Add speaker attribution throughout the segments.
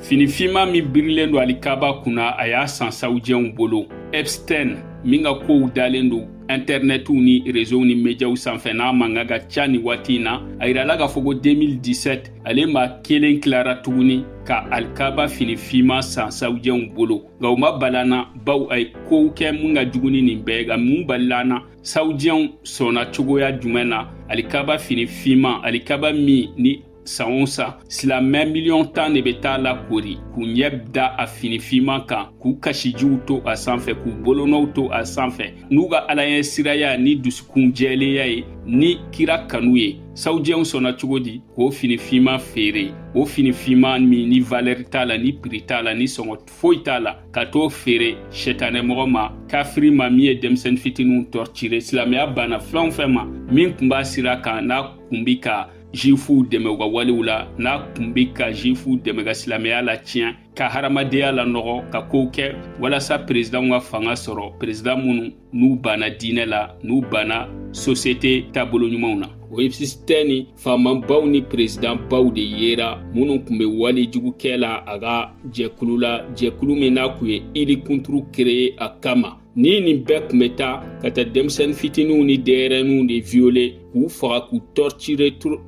Speaker 1: fini finma min birilen don alikaba kunna a y'a san sawujɛnw bolo epstein min ka kow dalen don intɛrnɛtiw ni rezow ni mediyaw sanfɛ n'a mankan ka ca ni waati in na a yirala k'a fɔ ko 2017 ale maa kelen tilara tuguni ka alikaba fini finma san sawujɛnw bolo nka o ma bal'an na baw a ye kow kɛ min ka jugu ni nin bɛɛ nka min balil'an na sawujɛnw sɔnna cogoya jumɛn na alikaba fini finma alikaba min ni San o san silamɛ miliyɔn tan de bɛ t'a lakoori k'u ɲɛ da a finifinman kan k'u kasijiw to a sanfɛ k'u bolonɔw to a sanfɛ n'u ka alaɲɛsiranya ni dusukun jɛlenya ye ni kira kanu ye sawujɛnw sɔnna cogo di k'o finifinman feere o finifinman min ni valɛri t'a la ni piri t'a la ni sɔngɔ foyi t'a la ka t'o feere sɛtanɛmɔgɔ ma kafiri ma min ye denmisɛnnin fitiniw torturer silamɛya banna fɛn o fɛn ma min kun b'a sira kan n'a kun bi ka juwifuw dɛmɛ u ka walew la n'a kun be ka juwifuw dɛmɛ ka silamɛya latiɲɛ ka hadamadenya lanɔgɔ ka kow kɛ walasa perezidanw ka fanga sɔrɔ perezidan minnu n'u banna diinɛ la n'u banna sosiyete taabolo ɲumanw na o epstein ni faamabaw ni perezidanbaw de yera minnu kun be walejugu kɛ la a ka jɛkulu la jɛkulu min n'a kun ye ili kunturu kereye a kama Ni nin bɛɛ kun bɛ taa ka taa denmisɛnnin fitininw ni denyɛrɛninw de violer k'u faga k'u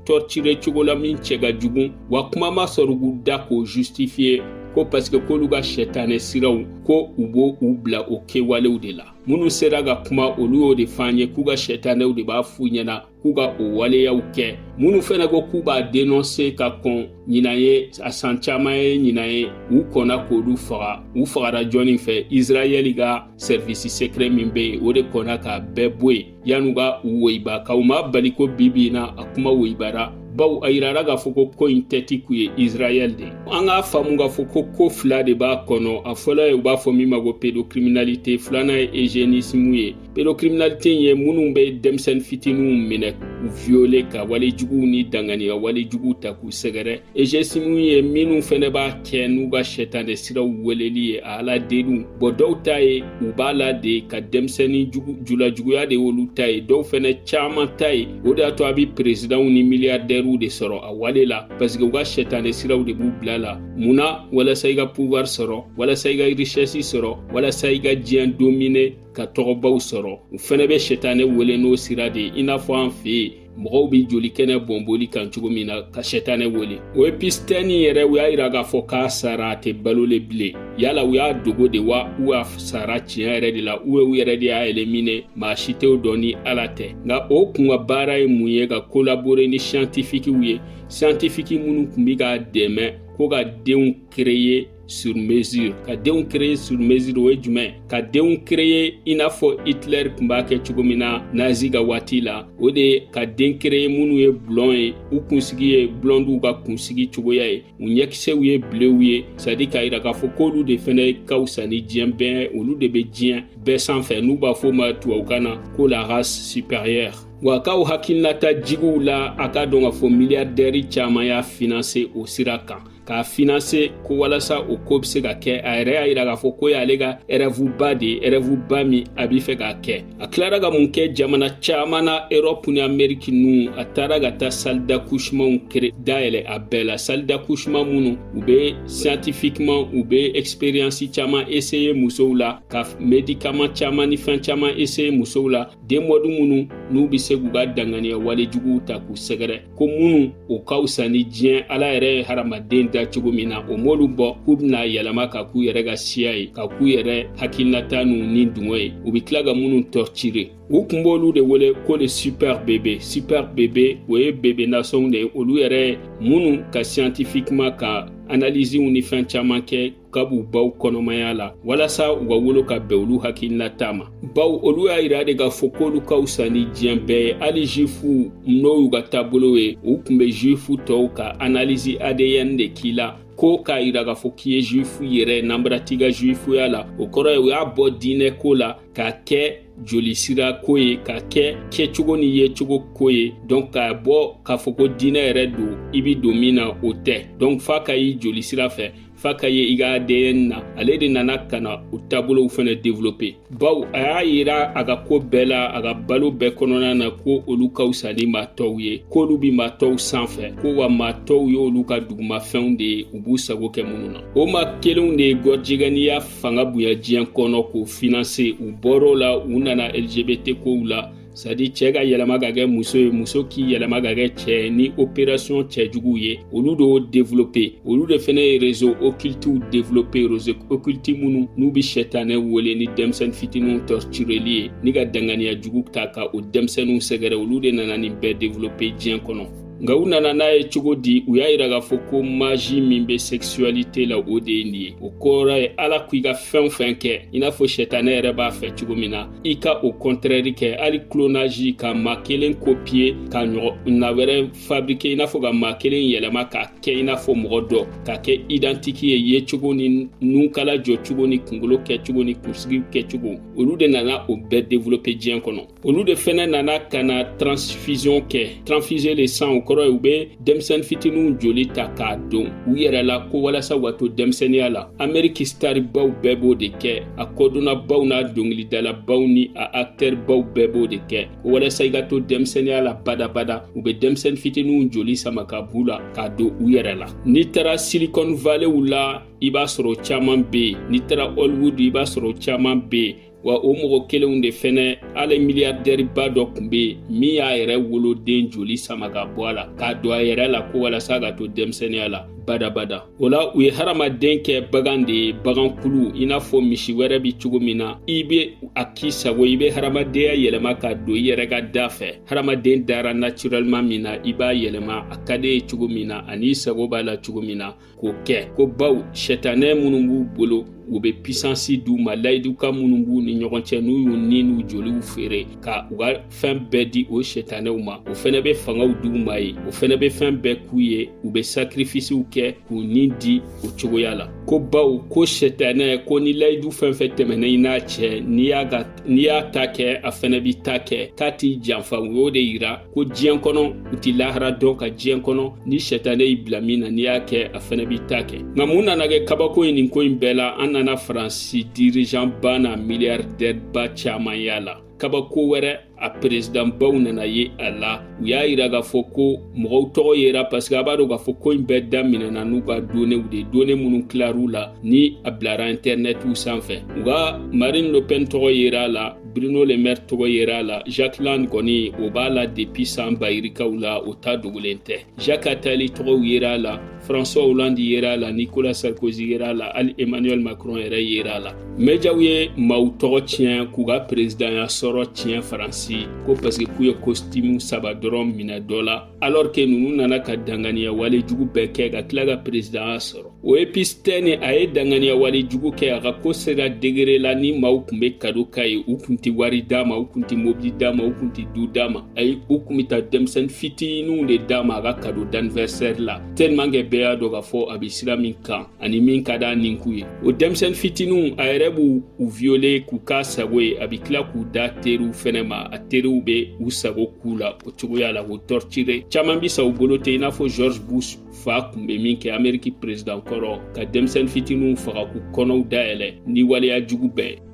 Speaker 1: torturer cogo la min cɛ ka jugu wa kuma ma sɔrɔ k'u da k'o justifier ko parce que k'olu ka sɛtanɛ siraw ko u b'u bila o kɛwalew de la minnu sera ka kuma olu y'o de f'an ye k'u ka sɛtanɛw de b'a f'u ɲɛna k'u ka o waleyaw kɛ minnu fɛnɛ ko k'u b'a denonse ka kɔn ɲinan ye a san caaman ye ɲinan ye u kɔnna k'olu faga u fagara jɔnni fɛ israɛli ka sɛrivisi sekrɛ min be yen o de kɔnna k'a bɛɛ bɔ yen yan'u ka u woyiba nka o m'a bali ko bi bi na a kuma woyibara baw a yirara k'a fɔ ko ko in tɛti kun ye israɛl de an k'a faamu k'a fɔ ko ko fila de b'a kɔnɔ a fɔlɔ ye u b'a fɔ min ma ko pédocriminalité filanan ye eugénisme ye pédocriminalité ye minnu bɛ denmisɛnnin fitininw minɛ k'u viole ka wale juguw ni danganiya wale juguw ta k'u sɛgɛrɛ eugénisme ye minnu fɛnɛ b'a kɛ n'u ka sɛtanɛ siraw weleli ye a ala deliw bɔ dɔw ta ye u b'a la de ka denmisɛnnin julajuguya de y'olu ta ye dɔw fɛnɛ caaman ta ye o de y'a to a be perezidanw ni miliyardɛriw de sɔrɔ a wale la paseke u ka sɛtanɛ siraw de b'u bila la mun na walasa i ka pouvoir sɔrɔ walasa i ka richɛsi sɔrɔ walasa i ka diɲɛ domine ka tɔgɔbaw sɔrɔ u fɛnɛ bɛ sɛtanɛ wele n'o sira de ye i n'a fɔ an fɛ yen mɔgɔw bɛ joli kɛnɛ bɔnboli kan cogo min na ka sɛtanɛ wele o Epstein yɛrɛ u y'a yira k'a fɔ k'a sara a tɛ balo le bilen yala u y'a dogo de wa u y'a sara tiɲɛ yɛrɛ de la u ye u yɛrɛ de y'a éliminer maa si t'o dɔn ni ala tɛ nka o kun ka baara ye mun ye ka collaborer ni scientifiquew ye scientifique minnu kun bi k'a dɛmɛ ko ka denw créer sur mesure ka denw créer sur mesure o ye jumɛn ka denw créer i n'a fɔ Hitler kun b'a kɛ cogo min na nazi ka waati la o de ye ka den créer minnu ye blond ye u kunsigi ye blondiw ka kunsigi cogoya ye u ɲɛkisɛw ye bleuw ye c'est-à-dire k'a yira k'a fɔ k'olu de fɛnɛ ka wusa ni diɲɛ bɛɛ olu de bɛ diɲɛ bɛɛ sanfɛ n'u b'a fɔ ma tubabukan na ko la race supérieure wa k'aw hakilinata jigi o la a k'a dɔn k'a fɔ milliardaire caman y'a financer o sira kan k'a financer ko walasa o ko bɛ se ka kɛ a yɛrɛ y'a yira k'a fɔ k'o y'ale ka rêve ba de ye rêve ba min a b'i fɛ k'a kɛ a tilara ka mun kɛ jamana caman na erɔpu ni ameriki ninnu a taara ka taa salle d'accouchementw créer dayɛlɛ a bɛɛ la salle d'accouchement minnu u bɛ scientifiquement u bɛ expérience caman essayer musow la ka médicament caman ni fɛn caman essayer musow la den maudit minnu n'u bɛ se k'u ka danganiya wale juguw ta k'u sɛgɛrɛ ko minnu o ka wusa ni diɲɛ ala yɛrɛ ye hadamaden da cogo min na o m'olu bɔ k'u bɛna yɛlɛma ka k'u yɛrɛ ka siya ye ka k'u yɛrɛ hakilinata n'u nidungɔ ye u bɛ tila ka minnu torturer u kun b'olu de wele ko les super bébé super bébé o ye bébé nasɔnw de ye olu yɛrɛ minnu ka scientifiquement ka analysew ni fɛn caman kɛ ka b'u baw kɔnɔmaya la walasa u ka wolo ka bɛn olu hakilinata ma baw olu y'a yira de k'a fɔ k'olu ka wusa ni diɲɛ bɛɛ ye hali juif n'o y'u ka taabolo ye u kun bɛ juif tɔw ka analyse ADN de k'i la ko k'a yira k'a fɔ k'i ye juif yɛrɛ nanbara t'i ka juifya la o kɔrɔ ye u y'a bɔ diinɛ ko la k'a kɛ joli sira ko ye k'a kɛ kɛcogo ni yecogo ko ye donc k'a bɔ k'a fɔ ko diinɛ yɛrɛ don i bi don min na o tɛ donc f'a ka y'i joli sira fɛ f'a ka ye i ka ADN na ale de nana ka na o taabolow fɛnɛ développer baw a y'a yira a ka ko bɛɛ la a ka balo bɛɛ kɔnɔna na ko olu ka wusa ni maa tɔw ye k'olu bi maa tɔw sanfɛ ko wa maa tɔw y'olu ka dugumafɛnw de ye u b'u sago kɛ minnu na o maa kelenw de ye gɔrijigɛniya fanga bonya diɲɛ kɔnɔ k'o financer u bɔr'o la u nana LGBT kow la c'est à dire cɛ ka yɛlɛma ka kɛ muso ye muso k'i yɛlɛma ka kɛ cɛ ni operation cɛjuguw ye olu de y'o développer olu de fɛnɛ ye réseau occultiw développer réseau occulti minnu n'u bi sɛtanɛ wele ni denmisɛnnin fitiniw tortureli ye ni ka danganiya jugu ta ka o denmisɛnninw sɛgɛrɛ olu de nana nin bɛɛ développer diɲɛ kɔnɔ nka u nana n'a ye cogo di u y'a yira k'a fɔ ko maji min bɛ sɛkisuwalite la o de ye nin ye o kɔrɔ ye ala ko i ka fɛn o fɛn kɛ i n'a fɔ sɛtanɛ yɛrɛ b'a fɛ cogo min na i ka o kɔntrɛri kɛ hali clonage ka maa kelen kopiye ka ɲɔgɔnna wɛrɛ fabrike i n'a fɔ ka maa kelen yɛlɛma k'a kɛ i n'a fɔ mɔgɔ dɔ ka kɛ idantiki ye yecogo ni nunkala jɔcogo ni kungolo kɛcogo ni kunsigi kɛcogo olu de nana o bɛɛ develope diɲɛ kɔnɔ olu de fɛnɛ nana ka na transfusion kɛ transfuser le sang o kɔrɔ ye u be denmisɛnnin fitininw joli ta k'a don u yɛrɛ la ko walasa u ka to denmisɛnniya la ameriki staribaw bɛɛ b'o de kɛ a kɔdonnabaw n'a dɔngilidalabaw ni a aktɛribaw bɛɛ b'o de kɛ ko walasa i ka to denmisɛnniya la badabada u be denmisɛnnin fitininw joli sama ka b'u la k'a don u yɛrɛ la n'i tara silicon valleyw la i b'a sɔrɔ caaman be yen n'i tara hollywood i b'a sɔrɔ caaman be yen wa o mɔgɔ kelenw de fɛnɛ ale miliyardɛriba dɔ kun be yen min y'a yɛrɛ woloden joli sama ka bɔ a la k'a don a yɛrɛ la ko walasa ka to denmisɛnniya la badabada o la u ye hadamaden kɛ bagan de ye bagankulu i n'a fɔ misi wɛrɛ bi cogo min na i be a k'i sago i be hadamadenya yɛlɛma k'a don i yɛrɛ ka da fɛ hadamaden dara naturɛlema min na i b'a yɛlɛma a ka d'i ye cogo min na an'i sago b'a la cogo min na k'o kɛ ko bawo sɛtanɛ minnu b'u bolo u bɛ pisansi d'u ma layidukan minnu b'u ni ɲɔgɔn cɛ n'u y'u ni n'u joliw feere ka u ka fɛn bɛɛ di o sɛtanɛw ma o fɛnɛ bɛ fangaw d'u ma ye o fɛnɛ bɛ fɛn bɛɛ k'u ye u bɛ sakirifisiw kɛ k'u ni di o cogoya la ko bawo ko sɛtanɛ ko ni layidu fɛn fɛn tɛmɛnɛ i n'a cɛ n'i y'a ta kɛ a fɛnɛ b'i ta kɛ k'a t'i janfa u y'o de yira ko diɲɛ kɔnɔ u ti lahara dɔn nka diɲɛ kɔnɔ ni sɛtanɛ y'i bila min na n'i y'a kɛ a fɛnɛ b'i ta kɛ nka mun nana kɛ kabako ye nin ko in bɛɛ la an nana faransi dirijan ba n'a miliyardɛri ba caman y'a la kabako wɛrɛ a perezidanbaw nana ye a la u y'a yira k'a fɔ ko mɔgɔw tɔgɔ yera paseke a b'a dɔn k'a fɔ ko in bɛɛ daminɛna n'u ka donew de done minnu tilar'u la ni a bilara intɛrnɛtiw sanfɛ u ka marine le pen tɔgɔ yera a la Bruno Le Maire tɔgɔ yera a la Jack Lang kɔni o b'a la depuis san bayirikaw la o ta dogolen tɛ Jacques Attali tɔgɔw yera a la François Hollande yera a la Nicolas Sarkozy yera a la hali Emmanuel Macron yɛrɛ yera a la médiaw ye maaw tɔgɔ tiɲɛ k'u ka peresidanya sɔrɔ tiɲɛ Faransi ko parce que k'u ye kositimu saba dɔrɔn minɛ dɔ la alors que ninnu nana ka danganiya wale jugu bɛɛ kɛ ka tila ka peresidanya sɔrɔ o epstein a ye danganiya wale jugu kɛ a ka ko sera degere la ni maaw kun be kado k'a ye u kun tɛ wari d'a ma u kun tɛ mobili d'a ma u kun tɛ du d'a ma ayi u kun be taa denmisɛni fitiniw de d'a ma a ka kado d'anniversaire la tellement que bɛɛ y'a dɔn k'a fɔ a be sira min kan ani min ka d'a ninku ye o denmisɛn fitiniw a yɛrɛ b'u viole k'u k'a sago ye a be tila k'u d'a teriw fɛnɛ ma a teriw be u sago k'u la o cogoya la k'u tɔrtire caaman bi sa u bolo ten i n'a fɔ george bush fa kun be min kɛ ameriki prezidan kɔrɔ ka denmisɛn fitiniw faga k'u kɔnɔw dayɛlɛ ni waleya jugu bɛɛ